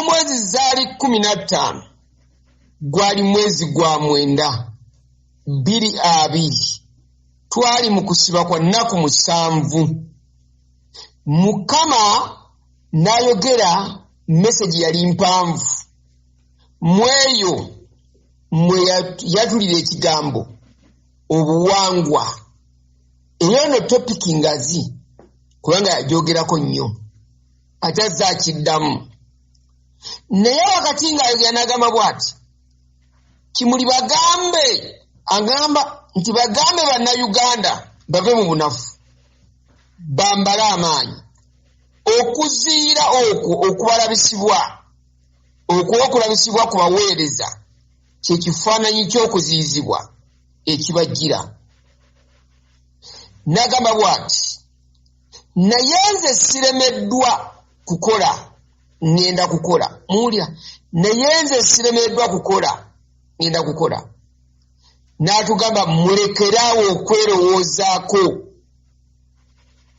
omwezi zaali kumi na ttaano gwali mwezi gwa mwenda bbiri abiri twali mu kusiba kwa nnaku musanvu mukama n'ayogera mesegi yali mpanvu mu eyo mwe yatulira ekigambo obuwangwa eyo no topiki ngazi kubanga yagyogerako nnyo ate azze akiddamu naye wakati ng'ayogera n'agamba bw'ati kimuli bagambe agamba nti bagambe bannayuganda bave mu bunafu bambale amaanyi okuziira okwo okubalabisibwa okwokulabisibwa ku baweereza kye kifaananyi ky'okuziyizibwa ekibajjira nagamba bwati naye nze siremeddwa kukola ŋŋenda kukola muwulira naye nze siremeddwa kukola ŋŋenda kukola n'atugamba mulekeraawo okwerowoozaako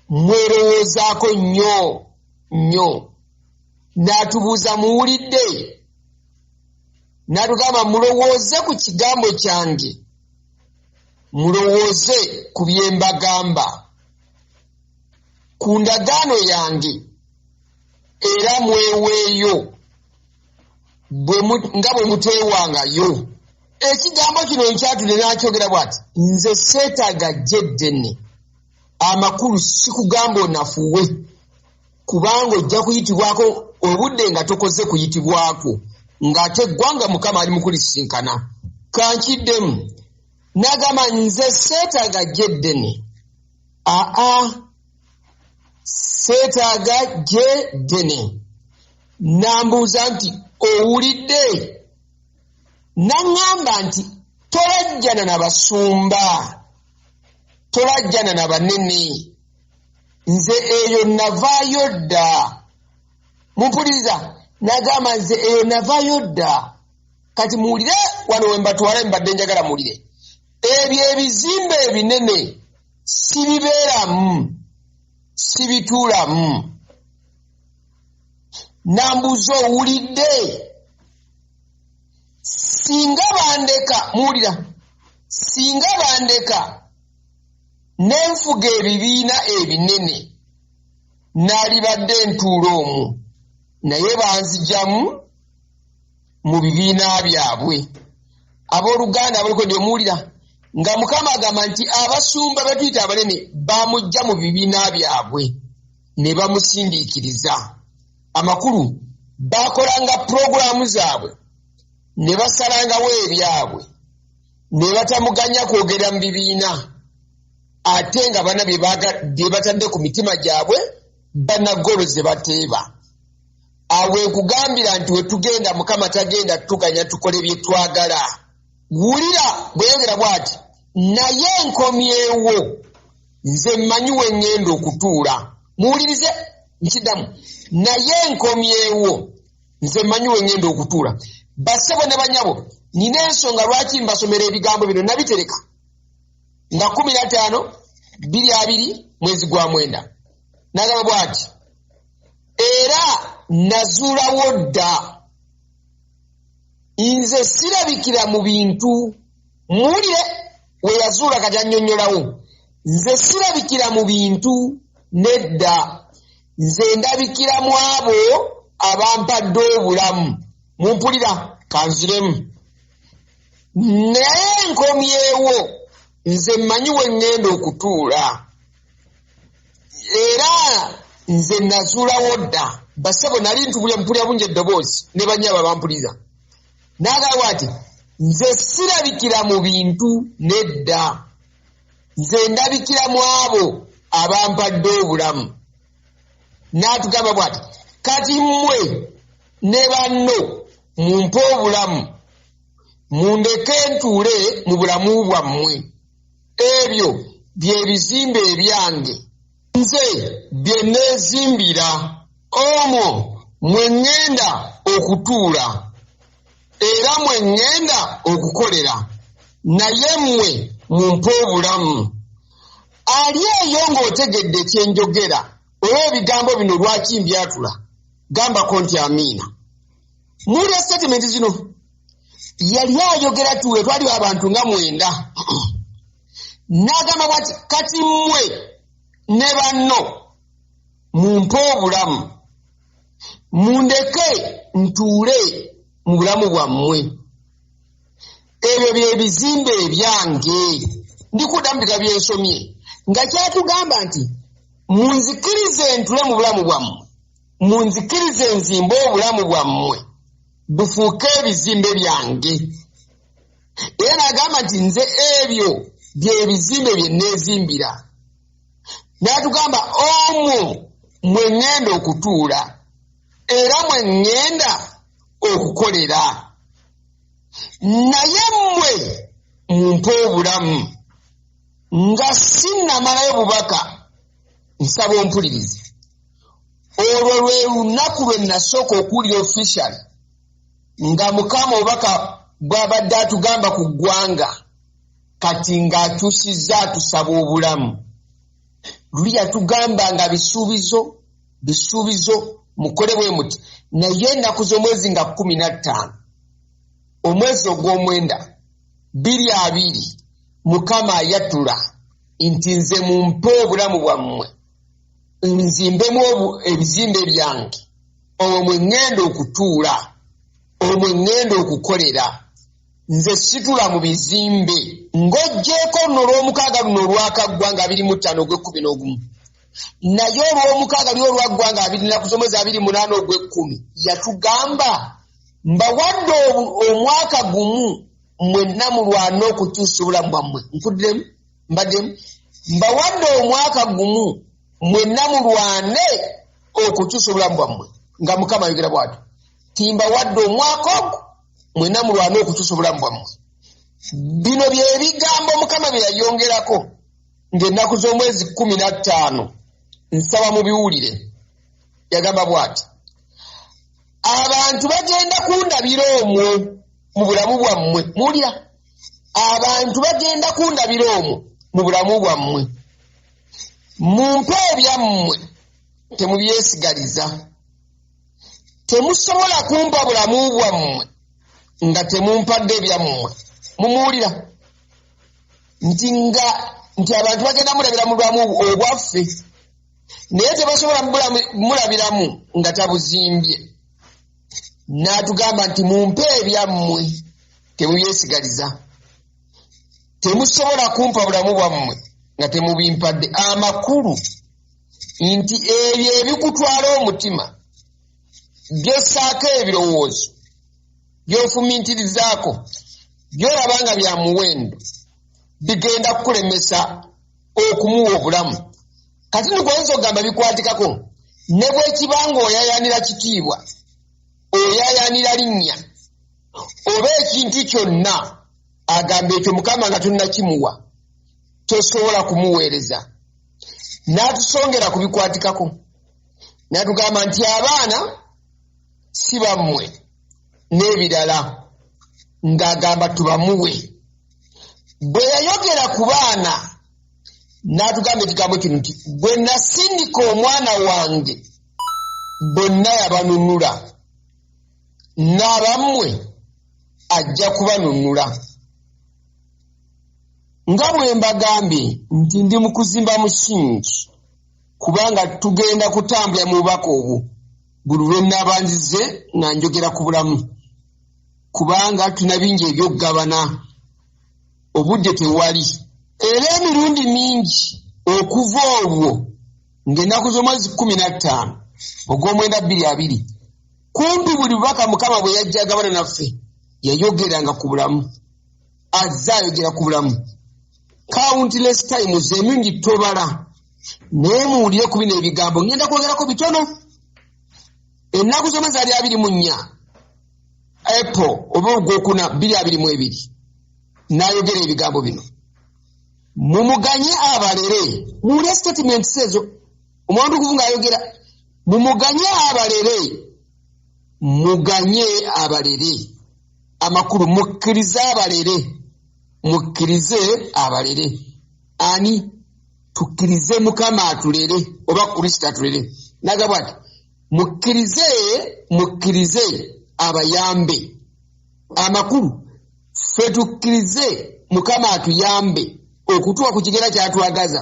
mwerowoozaako nnyo nnyo n'atubuuza muwulidde n'atugamba mulowooze ku kigambo kyange mulowooze ku bye mbagamba ku ndagaano yange era mweweeyo nga bwe muteewangayo ekigambo kino nkyatudde nakyogera bwati nze seetaaga jjeddene amakulu sikugamba onafuwe kubanga ojja kuyitibwako obudde nga tokoze kuyitibwako ng'ate eggwanga mukama ali mukulisinkana kankiddemu nagamba nze seetaaga gyeddene aa seetaaga gyeddene nambuuza nti owulidde naŋŋamba nti tolajjana na basumba tolajjana na banene nze eyo navaayo dda mumpuliriza nagamba nze eyo navaayo dda kati muwulire wano wembatwala mbadde njagala muwulire ebyo ebizimba ebinene sibibeeramu sibituulamu nambuuza owulidde singa bandeka muwulira singa bandeka nenfuga ebibiina ebinene naalibadde ntuula omu naye banzijamu mu bibiina byabwe abooluganda abaliko nti omuwulira nga mukama agamba nti abasumba betuyita abanene bamujja mu bibiina byabwe ne bamusindiikiriza amakulu bakolanga pulogulaamu zaabwe ne basalangawo ebyabwe ne batamuganya kwogera mu bibiina ate nga bana bye batadde ku mitima gyabwe banagolo ze bateeba awo wekugambira nti wetugenda mukama tagenda tuganya tukole byetwagala wulira bweyogera bwati naye nkomyewo nze mmanyi wengenda okutuula muwulirize nkidamu naye nkomyewo nze mmanyi wengenda okutuula basebo ne banyabo nina ensonga lwaki mbasomera ebigambo bino nabitereka nga kumi nataano biri abiri mwezi gwa mwenda nagamba bwati era nazuulawo dda nze sirabikira mu bintu muwulire we yazuula kati annyonnyolawo nze sirabikira mu bintu nedda nze ndabikira mu abo abampadde obulamu mumpulira kanziremu naye nkomyewo nze mmanyi we ŋŋenda okutuula era nze nazuulawo dda basebo nali ntubulya mpulya bungi eddoboozi ne banyaba bampulira nagamba ati nze sirabikira mu bintu nedda nze ndabikira mu abo abampadde obulamu n'atugamba bwati kati mmwe ne banno mumpe obulamu mundeke ntuule mu bulamu bwammwe ebyo bye bizimbe ebyange nze bye neezimbira omwo mwe ŋŋenda okutuula era mwe ŋŋenda okukolera naye mmwe mumpe obulamu ali eyo ng'otegedde kye njogera oba ebigambo bino lwaki mbyatula gambako nti amiina muwulira sitatimenti zino yali ayogera tuwe twali abantu nga mwenda n'agamba bwati kati mmwe ne banno mumpe obulamu mundeke ntuule mu bulamu bwammwe ebyo bye bizimbe ebyange ndikuddamu bika byensomye nga kyatugamba nti munzikirize ntule mu bulamu bwammwe munzikirize nzimbe obulamu bwammwe bufuuke ebizimbe byange era n'agamba nti nze ebyo byebizimbe bye nneezimbira n'atugamba omwo mwe ŋŋenda okutuula era mwe ŋŋenda okukolera naye mmwe mumpe obulamu nga sinnamalayo bubaka nsaba ompulirize olwo lwe lunaku lwe nasooka okuwulira official nga mukama obaka bwabadde atugamba ku ggwanga kati ng'akyusizza atusaba obulamu luli yatugamba nga bisuubizo bisuubizo mukole bwe muti naye ennaku z'omwezi nga kumi na ttaano omwezi ogw'omwenda biri abiri mukama ayatula nti nze mumpe obulamu bwammwe nzimbemu ebizimbe byange omwo mwe ŋŋenda okutuula omwo mwe ŋŋenda okukolera nze situla mu bizimbe ng'oggyeeko luno olw'omukaaga luno olwakaggwa nga biri mu ttaano ogw'ekkumi n'ogumu naye olw'omukaaga lyo olwaggwa nga abiri nnaku z'omwezi abiri munaana ogw'ekkumi yatugamba mbawadde omwaka gumu mwenna mulwana okukyusa obulamu bwammwe nkuddiremu mbaddemu mbawadde omwaka gumu mwenna mulwane okukyusa obulamu bwammwe nga mukama ayogera bwati timbawadde omwaka ogwo mwenna mulwane okukyusa obulamu bwammwe bino byebigambo mukama bye yayongerako ng'ennaku z'omwezi kumi na ttaano nsaba mu biwulire yagamba bwati abantu bagenda kundabira omwo mu bulamu bwammwe mulya abantu bagenda kundabira omwo mu bulamu bwammwe mumpe ebyammwe temubyesigaliza temusobola kumpa bulamu bwammwe nga temumpadde ebyammwe mumuwulira nti nga nti abantu bagenda mulabira mu bulamu obwaffe naye tebasobola mulabiramu nga tabuzimbye n'atugamba nti mumpe ebyammwe temubyesigaliza temusobola kumpa bulamu bwammwe nga temubimpadde amakulu nti ebyo ebikutwala omutima byossaako ebirowoozo byofumintirizaako byolaba nga bya muwendo bigenda kukulemesa okumuwa obulamu kati ndikuweza okugamba bikwatikako ne bwekiba nga oyayanira kitiibwa oyayanira linnya oba ekintu kyonna agamba ekyo mukama nga tunnakimuwa tosobola kumuweereza n'atusongera ku bikwatikako n'atugamba nti abaana si bammwe n'ebirala ng'agamba tubamuwe bwe yayogera ku baana n'atugamba ekigambo kino nti bwe nasindika omwana wange bonna yabanunula n'abammwe ajja kubanunula nga bwe mbagambye nti ndi mu kuzimba musingi kubanga tugenda kutambula mu bubaka obwo buli lwe naabanzize nga njogera ku bulamu kubanga tulina bingi ebyokugabana obudde tewali era emirundi mingi okuva olwo ng'ennaku z'omwezi kkumi na ttaano ogw'omwenda bbiri abiri kumpi buli bubaka mukama bwe yajja agabana naffe yayogeranga ku bulamu azze ayogera ku bulamu countless times emingi tobala naye muwulire ku bino ebigambo ngenda kwogerako bitono ennaku zona zaali abiri mu nnya apple oba ogwokuna biri abiri mu ebiri n'ayogera ebigambo bino mumuganye abalere muwulire statements ezo omwandu okuvu ng'ayogera mumuganye abalere muganye abalere amakulu mukkirize abalere mukkirize abalere ani tukkirize mukama atulere oba kristo atulere nagabwa ti mukkirize mukkirize abayambe amakulu ffe tukkirize mukama atuyambe okutuwa ku kigera kyatwagaza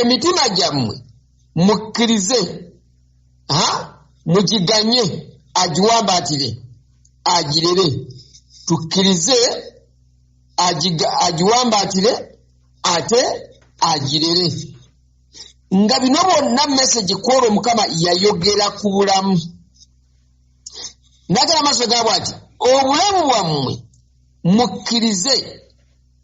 emitima gyammwe mukkirize ha mugiganye agiwambaatire agirere tukkirize agiga- agiwambaatire ate agirere nga bino bonna mesegi kwolwo mukama yayogera ku bulamu nagala amaaso gaabwe ati obulamu bwammwe mukkirize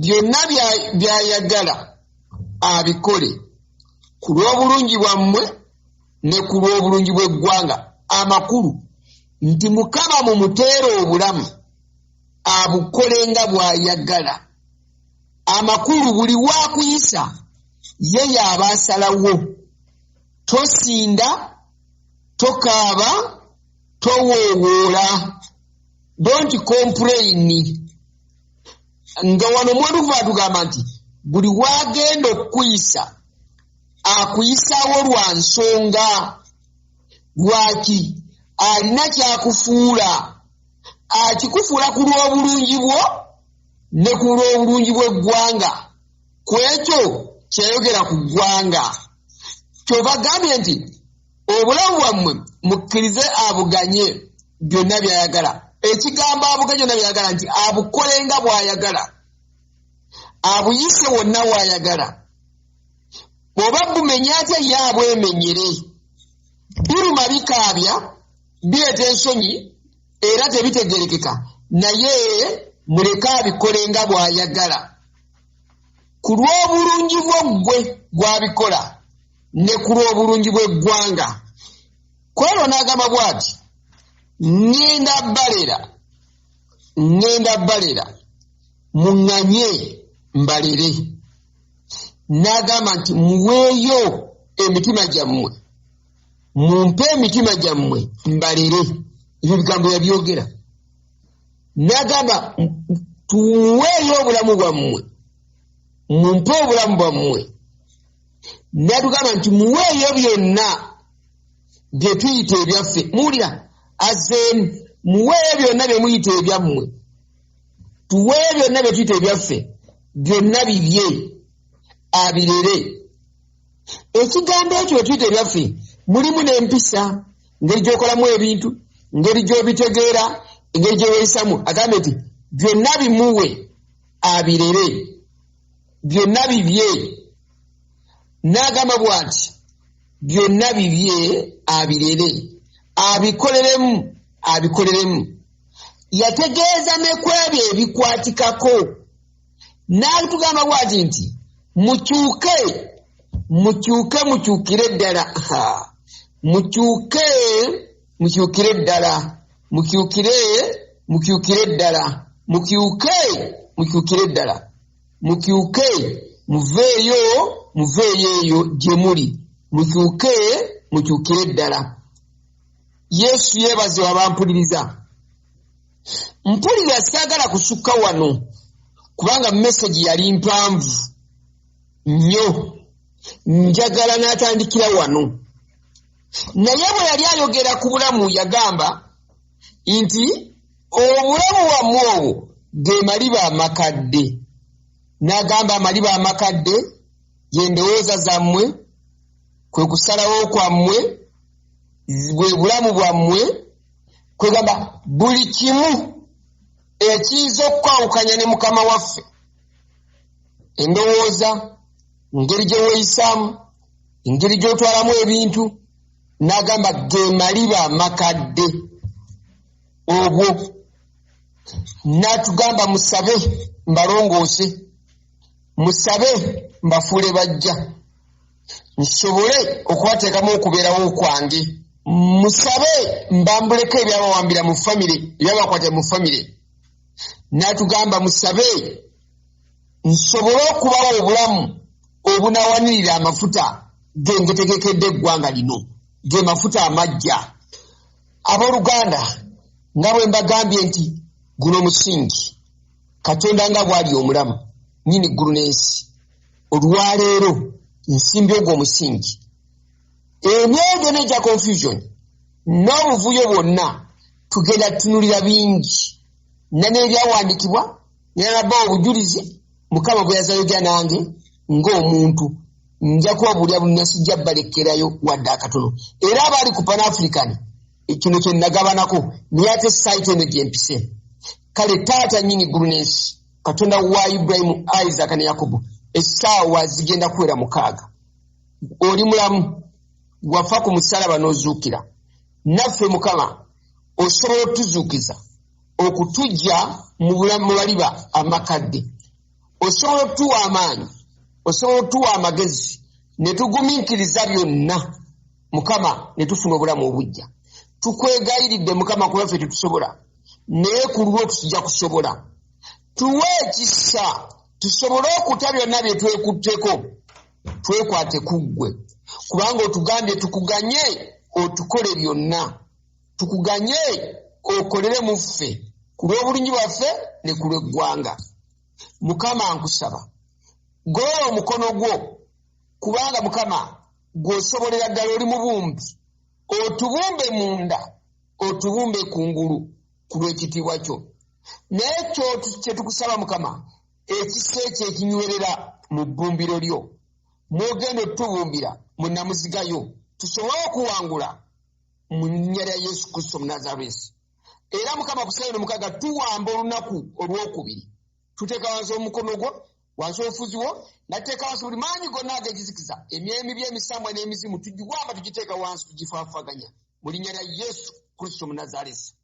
byonna by'ayagala abikole ku lw'obulungi bwammwe ne ku lw'obulungi bw'eggwanga amakulu nti mukama mu muteera obulamu abukole nga bw'ayagala amakulu buli waakuyisa ye yaaba asalawo tosinda tokaaba towoowoola don't complaini nga wano mwetukuva atugamba nti buli wagenda okukuyisa akuyisawo lwa nsonga lwaki alina kyakufuula akikufuula ku lw'obulungi bwo ne ku lw'obulungi bw'eggwanga ku ekyo kyeyogera ku ggwanga kyovagambye nti obulamu bwammwe mukkirize abuganye byonna byayagala ekigambo abuganye byonna byayagala nti abukole nga bwayagala abuyise wonna wayagala bwoba bumenya atya ye abwemenyere biruma bikaabya bireeta ensonyi era tebitegerekeka naye muleke abikole nga bwayagala ku lw'obulungi bwo ggwe gwabikola ne ku lw'obulungi bw'eggwanga kwolwo n'agamba bwati ŋŋenda balera ŋŋenda balera muŋŋanye mbalere n'agamba nti muweeyo emitima gyammwe mumpe emitima gyammwe mbalere ebyo bigambo yabyogera n'agamba tuweeyo obulamu bwammwe mumpe obulamu bwammwe natugamba nti muweeyo byonna bye tuyita ebyaffe muwulira azeemu muweeyo byonna bye muyita ebyammwe tuweeyo byonna bye tuyita ebyaffe byonna bibye abirere ekigambo ekyo bye tuyita ebyaffe mulimu n'empisa ngeri gyokolamu ebintu ngeri gyobitegeera engeri gyeweyisamu agambe nti byonna bimuwe abirere byonna bibye n'agamba bw'ati byonna bibye abirere abikoleremu abikoleremu yategeeza ne ku ebyo ebikwatikako n'atugamba bw'ati nti mukyuke mukyuke mukyukire ddala mukyuke mukyukire ddala mukyukire mukyukire ddala mukyuke mukyukire ddala mukyuke muveeyo muveeyo eyo gye muli mukyuke mukyukire ddala yesu yeebaze wabampuliriza mpulira saagala kusukka wano kubanga mesegi yali mpanvu nnyo njagala n'atandikira wano naye bwe yali ayogera ku bulamu yagamba nti obulamu bwamwe obwo ge maliba amakadde n'agamba amaliba amakadde y'endowooza zammwe kwe kusalawo kwammwe bwe bulamu bwammwe kwegamba buli kimu ekiyinza okukwawukanya ne mukama waffe endowooza engeri gye weeyisaamu engeri gy'otwalamu ebintu n'agamba ge maliba amakadde obwo n'atugamba musabe mbalongoose musabe mbafuule bajja nsobole okubateekamu okubeerawo kwange musabe mbambuleko ebyabawambira mu famire ebyabakwata mu famire n'atugamba musabe nsobole okubawa obulamu obunawanirira amafuta gengetegekedde eggwanga lino ge mafuta amajja abooluganda nga bwe mbagambye nti guno musingi katonda nga bwali omulamu nyini ggulu n'ensi olwaleero nsimbi ogwo omusingi emyoyo n'egya confusion n'obuvuyo bwonna tugenda tunulira bingi na n'ebyawandiikibwa nalaba obujulizi mukama bwe yazayoja nange ng'omuntu nja kubabuulira bunna sijja balekerayo wadde akatono era abaali ku pan african kino kye nagabanako naye ate site eno gye mpise kale taata nyini ggulu n'ensi katonda wa iburahimu isaaka ne yakobo essaawa zigenda kuwera mukaaga oli mulamu wafa ku musalaba n'ozuukira naffe mukama osobola otuzuukiza okutujja mu bulamu baliba amakadde osobola okutuwa amaanyi osobola okutuwa amagezi ne tugumiikiriza byonna mukama ne tufuna obulamu obujja tukwegayiridde mukama kuba ffe tetusobola naye ku lulwo tujja kusobola tuwe ekisa tusobole okuta byonna bye twekutteko twekwate ku ggwe kubanga otugambye tukuganye otukole byonna tukuganye okolere mu ffe ku lw'obulungi bwaffe ne ku lw'eggwanga mukama nkusaba golola omukono gwo kubanga mukama gwosobolera ddala oli mubumbi otubumbe munda otubumbe kungulu ku lw'ekitiibwa kyo naye kyetukusaba mukama ekisa ekyo ekinywerera mu bbumbiro lyo mwogenda otutubumbira mu namuzigayo tusobole okuwangula mu nnya lya yesu kristo munazaresi era mukama kusaino mukaga tuwamba olunaku olwokubiri tuteeka wansi omukono gwo wansi obufuzi wo nateeka wansi buli maanyi gonna agegizikiza emyemi byemisambwa n'emizimu tugiwamba tugiteeka wansi tugifaafaganya mu linnya lya yesu kristo munazaresi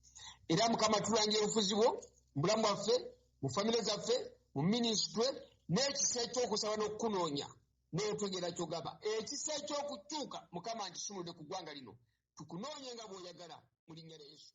era mukama tulangira obufuzi bwo mu bulamu bwaffe mu famire zaffe mu minisitule n'ekisa ekyokusaba n'okukunoonya Bw'otegera kyogaba ekisa eky'okukyuka Mukama nkisumuludde ku ggwanga lino tukunoonye nga bw'oyagala mu linnya lya Yesu.